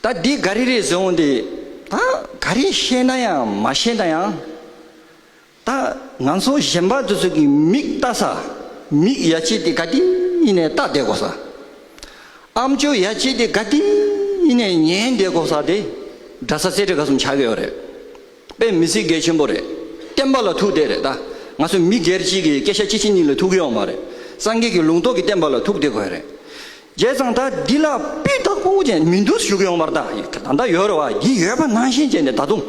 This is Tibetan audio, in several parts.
ད་འདི་ག་རེ་རེད་ཟེར་འོང་དེ། ད་ག་རེ་ཤེས་ན་ཡང་མ་ཤེས་ན་ཡང། ད་ང་ཚོ་གཞན་པ་དེ་ཚོ་གི་མིག་བལྟ་ས་མིག་ཡ་ཆེ་དེ་ག་དེ་ནས་བལྟ་བསྡད་གོ་ས། ཨམ་ཅོ་ཡ་ཆེ་དེ་ག་དེ་ནས་ཉན་བསྡད་གོ་ས་དེ་འདྲ་ས་ཟེར་དེ་ག་གསུམ་ཆགས་ཀྱི་ཡོད་རེད། པས་མི་སྲིད་འགལ་ཆེན་པོ་རེད། བསྟན་པ་ལ་ཐུག་བསྡད་རེད་ད། ང་ཚོ་མི་སྒེར་གཅིག་གི་སྐད་ཆ་སྤྱི་ཆིངས་གཉིས་ལ་ཐུག་གི་ཡོག་མ་རེད། སངས་རྒྱས་ཀྱི་ལུང་རྟོགས་ཀྱི་བསྟན་པ་ལ་ཐུག་བསྡད་དགོས་རེད། རྒྱལ་བཟང་ད་འདི་ལ་སྤུས་རྟགས་སྤོ་བོ་ཅན་མི་འདུག་ཞུགས་ཡོང་བར་ད་ད་ད་ཡོད་རེད་བ་འདི་ཡོད་པ་ནང་བཞིན་བྱས་ནས་ད་དུང།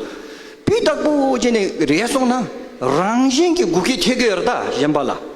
སྤུས་རྟགས་སྤོ་བོ་ཅན་ནས་རེད་སོང་ན་རང་བཞིན་གྱི་སྒུག་ཁའི་ཐེ་གུ་ཡོད་རེད་ད་གཞན་པ་ལ།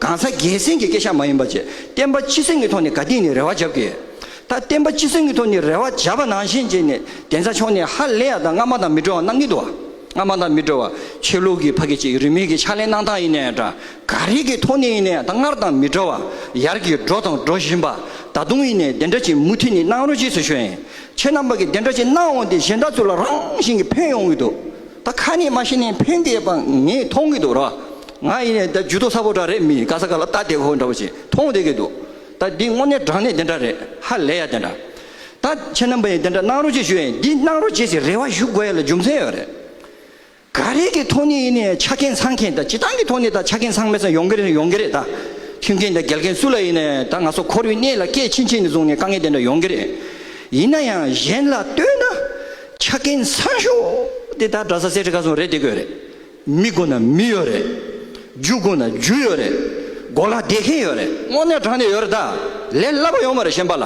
གང་ཟག་སྒེར་སེམས་ཀྱི་སྐད་ཆ་མ་ཡིན་པ་བཅས་བསྟན་པ་སྤྱི་སེམས་ཀྱི་ཐོག་ནས་དགའ་དད་ནས་རེ་བ་བརྒྱབ་ཀྱི་ཡོད། ད་བསྟན་པ་སྤྱི་སེམས་ཀྱི་ཐོག་ནས་རེ་བ་བརྒྱབ་པ་ནང་བཞིན་རྗེས་ནས་གདན་ས་མཆོག་ནས་ཧ་ལས་ཡག་དང་སྔ་མ་དང་མི་འགྲོ་བ་གནང་གི་འདུག་སྔ་མ་དང་མི་འགྲོ་བ་ཆོས་ལུགས་ཀྱི་ཕ་གི་ཅིག་རིས་མིང་གི་ཕྱག་ལེན་གནང་སྟངས་ཡིན་ན་ཡང་འདྲ་ག་རེ་གི་ཐོག་ནས་ཡིན་ན་ཡང་ད་སྔར་དང་མི་འགྲོ་བ་ཡར་གྱི་འགྲོ་དང་འགྲོ་བཞིན་པ་ད་དུང་ཡིན་ནས་དེ་འདྲ་ཅིག་མུ་མཐུད་ནས་གནང་རོགས་གྱིས་སུ་ཞུ་ཡིན་ཁྱེད་རྣམ་པ་གི་དེ་འདྲ་ཅིག་གནང་འོང་དེ་གཞན་དག་ཚོ་ལ་རང་བཞིན་གྱི་ཕན་ཡོང་གི་འདུག་ད་ཁ་ནས་མ་བཤད་ནས་ཕན་གི་ཡོད་པ་ངས་མཐོང་གི་འདུག་རོགས། ང་ཡིན་ནས་ད་ཇུས་གཏོགས་ས་ཕོ་འདྲ་རེད་མི་དགའ་ས་ག་ལ་ལྟ་དེ་ཁོ་འདྲ་བོ་ཞིག་མཐོང་བསྡད་ཀྱི་འདུག་ད་འདི་དངོས་གནས་དྲང་གནས་དེ་འདྲ་རེད་ཧ་ལས་ཡ་དེ་འདྲ་ད་ཁྱེད་རྣམ་པ་ཡིན་དེ་འདྲ་གནང་རོགས་གཅིག་ཞུ་ཨེ་ཡིན་འདི་གནང་རོགས་བྱེད་ཚེ་རེ་བ་ཞུ་དགོས་ཡ་ལ་རྒྱུ་མཚན་ཡོད་རེད། ག་རེ་གི་ཐོག་ནས་ཡིན་ནས་ཆ་རྐྱེན་ཚང་མཁན་ད་ཇི་སྟང་གི་ཐོག་ནས་ད་ཆ་རྐྱེན་ཚང་མེད་ས་ཡོང་གི་རེད་ཡོང་གི་རེད་ད་མཐུན་མཁན་ད་འགལ་མཁན་སུ་ལ་ཡིན་ནས་ད་ང་ཚོ་ཁོར་ཡུག་གནས་ལ་སྐད་ཕྱིན་ཕྱིན་ནས་བཟུང་ནས་དཀའ་ངལ་དེ་འདྲ་ཡོང་གི་རེད་ཡིན་ན་ཡང་གཞན་ལ་ལྟོས་ན་ཆ་རྐྱེན་ཚང་ཤོས་དེ་ད་གྲྭ་ས་སེ་ཁྲི་ཁ་སོང་རེད་དེ་དགོས་རེད་མི་དགོ་ན་མི་ཡོད་རེད། རྒྱུ་དགོ་ན་རྒྱུ་ཡོད་རེད། དགོ་ལ་བསྡད་མཁན་ཡོད་རེད། དངོས་གནས་དྲང་ནས་ཡོད་རེད་ད། ལས་སླ་པོ་ཡོང་མ་རེད་གཞན་པ་ལ།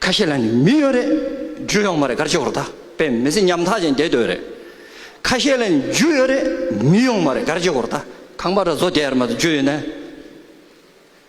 ཁ་ཤས་ལ་ནི་མི་ཡོད་རེད། རྒྱུ་ཡོང་མ་རེད་གར་ཆོག་རེད་ད། དཔེ་མི་ཚེ་ཉམ་ཐག་ཅིག་འདས་སྡོད་རེད། ཁ་ཤས་ལ་ནི་རྒྱུ་ཡོད་རེད། མི་ཡོང་མ་རེད་གར་ཆོག་རེད་ད། ཁང་པ་ར་བཟོ་བསྡད་ཡར་མ་དུ་རྒྱུ་ཡོད་ན།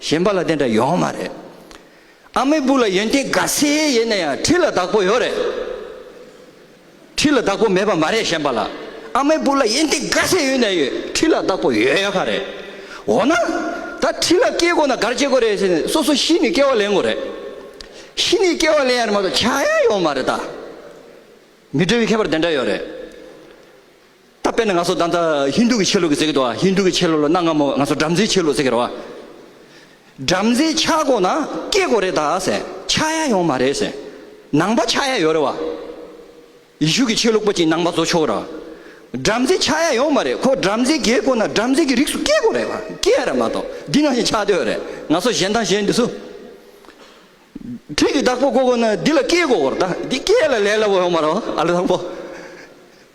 གཞན་པ་ལ་དེ་འདྲ་ཡོང་མ་རེད། ཨ་མའི་བུ་ལ་ཡོན་ཏན་དགའ་སེ་ཡེ་ནས་ཡང་ཁྲི་ལ་བདག་པོ་ཡོད་རེད། ཁྲི་ལ་བདག་པོ་མེད་པ་མ་རེད་གཞན་པ་ལ་ཨ་མའི་བུ་ལ་ཡོན་ཏན་དགའ་སེ་ཡོད་ནས་ཡོད་ཁྲི་ལ་བདག་པོ་ཡོད་ཡོད་ཁ་རེད། འོ་ན། ད་ཁྲི་ལ་སྐྱེས་དགོས་ན་གར་སྐྱེས་དགོས་རེད་ཟེར་ནས་སོ་སོ་གཞི་ནས་སྐྱེ་བ་ལེན་དགོས་རེད། གཞི་ནས་སྐྱེ་བ་ལེན་ཡ་རེད་མ་གཏོགས་བྱ་ཡ་ཡོང་མ་རེད་ད། མི་འདྲ་བའི་ཁྱད་པར་དེ་འདྲ་ཡོད་རེད། ད་དཔེར་ན་ང་ཚོ་ད་ལྟ་ཧིན་དྷུ་གི་ཆོས་ལུགས་ཀྱི་ཟེར་གི་འདུག་ཨ་ཧིན་དྷུ་གི་ཆོས་ལུགས་ལ་གནའ་སྔ་མོ་ང་ཚོ་བྲམ་ཟེའི་ཆོས་ལུགས་ཟེར་གི་རེད་བ། བྲམ་ཟེ་ཆག་སྒོ་ན་སྐྱེས་སྒོ་རེད་ད་ཟེར་ཆག་ཡ་ཡོང་མ་རེད་ཟེར། ནང་པ་ཆག་ཡ་ཡོད་རེད་བ། ཡེ་ཤུ་གི་ཆོས་ལུགས་པ་གཅིག་ནང་པ་བཟོ་ཆོག་རེད་བ། བྲམ་ཟེ་ཆག་ཡ་ཡོང་མ་རེད་ཁོ་བྲམ་ཟེ་རྒས་དགོས་ན་བྲམ་ཟེ་གི་རིགས་སུ་སྐྱེས་དགོས་རེད་བ་སྐྱེས་ཡ་རེད་མ་གཏོགས་འདི་ནང་བཞིན་ཆག་འདོད་རེད་ང་ཚོ་གཞན་དང་གཞན་འདི་སུ། ཁྲིད་ཀྱི་བདག་པོ་དགོས་དགོས་ན་འདི་ལ་སྐྱེས་དགོས་རེད་ད་འདི་སྐྱེས་ལ་ལས་ལ་བོ་ཡོང་མ་རེད་བ་ཨ་ལེ་དང་པོ།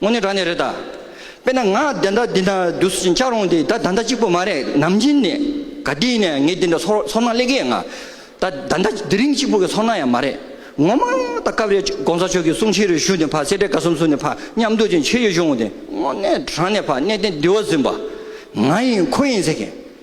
དངོས་གནས་དྲང་གནས་རེད་ད། དཔེར་ན་ང་བདེན་མཐའ་འདི་འདྲ་བསྡུ་ཟིན་ཆགས་རུང་དེ་ད་ད་འདྲ་གཅིག་པོ་མ་རེད་ནམ་རྒྱུན་ནས་ག་དུས་ནས་ངས་འདི་འདྲ་ཚོར་ཚོར་སྣང་སླེ་གི་ཡ་ང། ད་ད་འདྲ་དེ་རིང་གཅིག་པོ་གི་ཚོར་སྣང་ཡང་མ་རེད། ངོ་མ་ད་སྐབས་རེ ྋགོང་ས་མཆོག་གི་གསུང་ཆེ་རུ་ཞུ་ནས་ཕར་སེ་འབྲས་དགའ་གསུམ་གསུང་ནས་ཕར་མཉམ་འདུག་ཅིག་བྱེད་ཡོད་བྱུང་དེ་དངོས་གནས་དྲང་གནས་ཕར་གནས་བརྟན་བདེ་བ་ཟིན་པ། ང་ཡིན་ཁོ་ཡིན་ཟེར་མཁན།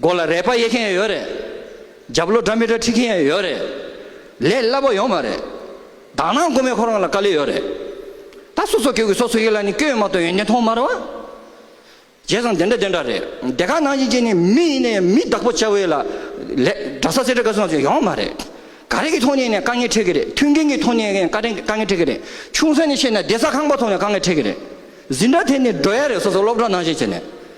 མགོ་ལ་རས་པ་གཡས་མཁན་ཡོད་རེད། རྒྱབ་ལོ་སྒྲ་མི་སྒྲ་ཁྲིད་མཁན་ཡང་ཡོད་རེད། ལས་སླ་པོ་ཡོང་མ་རེད། དག་སྣང་དགོས་མེད་ཁོ་རང་ལ་དཀའ་ལས་ཡོད་རེད། ད་སོ་སོ་ཁྱོད་ཀྱི་སོ་སོ་ཡིད་ལ་ནི་སྐྱོན་ཡོད་མ་གཏོགས་ཡོན་ཏན་མཐོང་མ་རེད། བྱས་ཙང་དེ་འདྲ་དེ་འདྲ་རེད། དེ་ག་ནང་བཞིན་གྱི་ནི་མི་ཡིན་ནའི་མི་བདག་པོ་བྱ་འི་ལ། ལས་འདྲ་ས་སེ་འདྲ་ག་སུ་ནང་བཞིན་ཡོང་མ་རེད། ག་རེ་གི་ཐོག་ནས་ནི་དཀའ་ངལ་འཕྲད་གི་རེད་མཐུན་རྐྱེན་གྱི་ཐོག་ནས་ནི་དཀའ་ངལ་འཕྲད་གི་རེད། ཆུང་ས་ནས་བཤད་ན་བདེ་ས་ཁང་པ་ཐོག་ནས་དཀའ་ངལ་འཕྲད་གི་རེད། ཟིན་འདྲ་དེ་ནི་འགྲོ་ཡ་རེད་སོ་སོ་སློབ་གྲྭ་ནང་བཞིན་བྱས་ནས།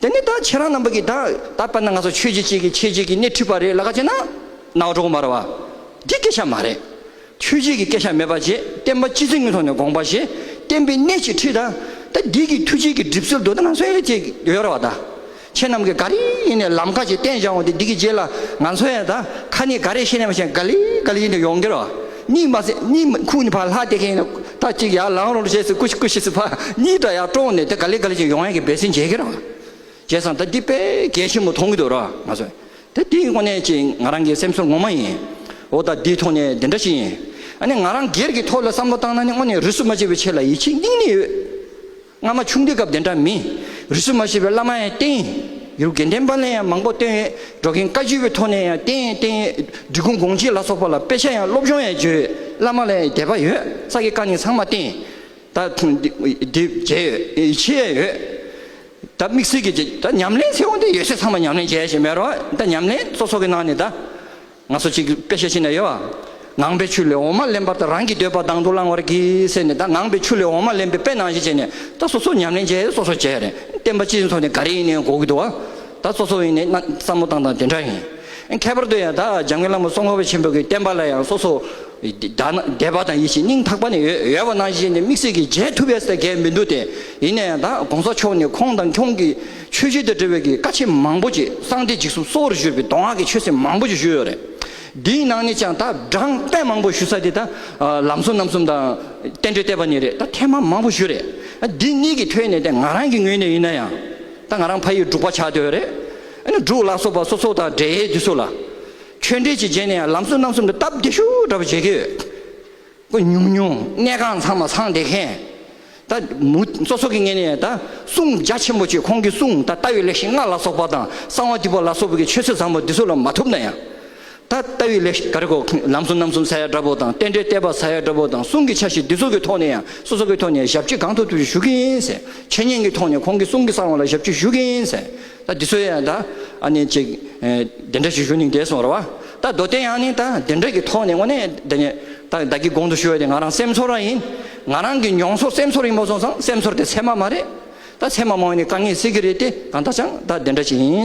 དེ་ནས་ད་ཁྱེད་རང་རྣམ་པ་གིས་ད་ད་པར་ན་ང་ཚོ་ཆོས་བྱེད་ཅིག་གིས་ཁྱེད་ཅིག་གིས་སྣེ་འཁྲིད་པ་རེད་ལ་ཁ་ཅིག་ན་ནག་འགྲོ་མར་བ། འདི་སྐད་ཆ་མ་རེད། ཆོས་བྱེད་ཀྱི་སྐད་ཆ་མེད་པ་རྗེ་བསྟན་པ་སྤྱི་ཚེ་ངོས་ཐོག་ནས་དགོངས་པ་ཞེས་བསྟན་པའི་སྣེ་ཅིག་འཁྲིད་ད་ད་འདི་གི་ཐུགས་བྱེད་ཀྱི་གྲིབ་སེལ་དུ་ད་ང་ཚོ་ཡང་ཅིག་ཡོད་ར་བ་ད་ཁྱེད་རྣམ་གིས་ག་རེ་ཡིན་ནས་ལམ་ཁ་ཅིག་བསྟན་བྱ་འོང་དེ་འདི་གི་རྗེས་ལ་ང་ཚོ་ཡང་ད་ཁ་ནས་ག་རེ་བཤད་ནས་མ་བཤད་ག་ལི་ག་ལི་ཡིན་དུ་ཡོང་གི་ར་བ། གཉིད་མ་སད་གཉིད་མི་ཁུག་ནས་ཕར་ལྷག་དེ་གས་ནས་ད་གཅིག་ཡར་ལངས་རོགས་ཞེས་སུ་ཀུ་ཤི་ཀུ་ཤི་སུ་ཕར་གཉིད་དང་ཡར་དཀྲོགས་ནས་དེ་ག་ལེ་ག་ལེ་བྱས་ཡོང་ཡང་གི་བེད་སེམས་འཇལ་གི་རང་བྱས་སམ་ད་འདི་དཔེ་གལ་ཆེན་པོ་མཐོང་གི་འདུག་རོགས་ང་ཚོས་དེ་དེའི་སྔོན་ནས་ཀྱི་ང་རང་གི་སེམས་ཚོར་ངོ་མ་ཡིན་འོ་ད་འདིའི་ཐོག་ནས་འདི་འདྲ་ཞིག་ཡིན་ཨ་ནི་ང་རང་སྒེར་གྱི་ཐོག་ལ་བསམ་བློ་བཏང་ན་ནི་དངོས་ནས་རུས་སུ་མ་བྱས་པའི་ཆེད་ལ་ཡིད་ཆེས་སྙིང་ནས་ཡོད། སྔ་མ་ཆུང་དུས་སྐབས་དེ་འདྲ་མིན། རིས་སུ་མ་ཤེས་པའི་བླ་མ་ཡང་བསྟེན་ཡིན། ཡུལ་དགེ་ལྡན་པ་ལས་ཡང་མང་པོ་བཏོན་ཡོད། འབྲོག་རྒན་བཀའ་བརྒྱུད་པའི་ཐོག་ནས་ཡང་བསྟེན་ཡིན་བསྟེན་ཡོད། འབྲི་གུང་དགོངས་གཅིག་ལ་སོགས་པ་ལ་དཔེ་ཆ་ཡང་སློབ་སྦྱོང་ཡང་བྱོས་ཡོད། བླ་མ་ལས་ཡང་དད་པ་ཡོད་ས་ཀྱི་བཀའ་ནི་ཚང་མ་བསྟེན་ཡིན། ད། དེ། བྱས་ཡོད། བྱེད་ཡས་ཡོད། ད་དམིགས་བསལ་གྱི། ད་ཉམས་ལེན་ཚེ་འོང་དུས་ཡོད་ཚད་ཚང་མ་ཉམས་ལེན་བྱས་ཡས་ཞེས་མེད་རོགས། ད་ཉམས་ལེན་སོ་སོ་གི་ནང་ནས་ད། ང་ཚོ་གཅིག་པེ་ཤེ་ཤི་ནས་ཡོ་ཨ། ངང་པའི་ཆུ་ལས་འོ་མ་ལེན་པར་ད་རང་གི་འདོད་པ་དང་དུ་བླང་བར་གྱིས་ཟེར་ནས་ད་ངང་པའི་ཆུ་ལས་འོ་མ་ལེན་པའི་པེ་ནང་བཞིན་བྱས་ནས་ད་སོ་སོ་ཉམས་ལེན་བྱས་སོ་སོ་བྱས་རེད་བསྟན་པ་སྤྱི་མཚོ་ནས་ག་རེ་ཡིན་ནའི་གོ་གི་འདུག་ཨ། ད་སོ་སོ་ཡིན་ནའི་ན་བསམ་བློ་བཏང་དང་དེ་འདྲ་ཡིན། ཁྱད་པར་དུ་ཡང་ད་འཇམ་མགོན་བླ་མ་སྲོང་བ་ཆེན་པོ་གི་བསྟན་པ་ལ་ཡང་སོ་སོ་དད་པ་དང་ཡིད་བཞིན་སྙིང་ཐག་པ་ནས་ཡོད་པ་ནང་བཞིན་བྱས་ནས་དམིགས་བསལ་གྱི་མཇལ་ཐུབ་པའི་ས་གལ་མི་འདུག་སྟེ་ཡིན་ན་ཡང་ད་གོང་ས་མཆོག་ནས་ཁོང་དང་ཁྱོང་གི། ཆོས་བརྒྱུད་དང་འབྲེལ་བའི་གི་ཀ་ཆེ་མང་པོ་ཅིག་གསང་སྟེ་འཇིགས་གསུམ་གསོ་བོར་བཞུར་བའི་མདོ་སྔགས་ཀྱི་ཆོས་སྲིད་མང་པོ་ཅིག་བཞུར་ཡོད་རེད། འདིའི་ནང་ནས་ཀྱང་ད་བགྲང་དཔེ་མང་པོ་ཞུ་ས་དེ་ད་ལམ་སྲོལ་རྣམ་གསུམ་དང། བསྟན་འགྲོའི་བསྟན་པ་ནས་རེད་ད་ཐེངས་མང་མང་པོ་བཞུར་རེད། འདི་གཉིས་ཀྱི་ཐོས་ནས་ད་ང་རང་གི་ངོས་ནས་ཡིན་ན་ཡང། ད་ང་རང་ཕ་ཡིས་འབྲུག་པ་ཆགས་འདོད་རེད། ཨ་ནི་འབྲུག་ལ་སོགས་པ་སོ་སོ་དང་འབྲེལ་ཡོད་དུས་སུ་ལ། ཆོས་འབྲེལ་ཅིག་བྱས་ནས་ཡང་ལམ་སྲོལ་རྣམ་གསུམ་དུ་སྟབས་བདེ་ཤུགས་འདྲ་པོ་བྱེད་ཀྱི་ཡོད། སྐུ་ཉུང་ཉུང་གནས་ཁང་ཚང་མ་ཚང་བསྡད་མཁན། ད་མུ་མཚོ་སོགས་ཀྱི་ངེས་ནས་ད་གསུང་རྒྱ་ཆེན་པོ་ཆེ་ཁོང་གི་གསུང་ད་ལྟ་བའི་ལེགས་བཤད་ལྔ་ལ་སོགས་པ་དང་གསང་བ་ཏི་པོ་ལ་སོགས་པའི་ཆོས་སྲོལ་བཟང་པོ་འདི་སུ་ལ་མ་ཐོབ་ན་ཡང། ད་ལྟ་བའི་ལེགས་བཤད་ག་རེ་གོ་ལམ་གསུམ་རྣམ་གསུམ་ས་ཡ་བཀྲ་བོ་དང་རྟེན་འབྲེལ་གཏད་པ་ས་ཡ་བཀྲ་བོ་དང་གསུང་གི་ཆ་བཞི་འདི་སོགས་ཀྱི་ཐོག་ནས་ཡང་སོ་སོ་ཀའི་ཐོག་ནས་ཞབས་ཕྱི་གང་ཐུབ་ཐུབ་ཀྱིས་ཞུ་གིན་ཟེར་འཆད་ཉན་གྱི་ཐོག་ནས་ཁོང་གི་གསུང་གི་གསང་བ་ལ་ཞབས་ཕྱི་ཞུ་གིན་ཟེར། ད་འདི་ཚོའི་ཡང་ད་ཨ་ནི་ཅིག་འདི་འདྲ་ཞིག་ཞུ་ནིང་དེ་སོང་ར་བ། ད་མདོ་སྟེ་ཡང་ནི་ད་འདི་འདྲ་གི་ཐོག་ནས་དངོས་གནས་འདི་ནི་ད་བདག་གི་དགོངས་དུ་ཞུ་བ་དེ་ང་རང་སེམས་ཚོར་ར་ཡིན། ང་རང་གི་མྱོང་ཚོར་སེམས་ཚོར་རིང་པོ་སོང་ཙང་སེམས་ཚོར་དེ་ཚད་མ་མ་རེད། ད་ཚད་མ་མང་བས་ནི་དཀའ་ངལ་སེལ་གི་རེད་དེ་གང་ལྟར་ཅང་ད་འདི་འདྲ་ཞིག་ཡིན།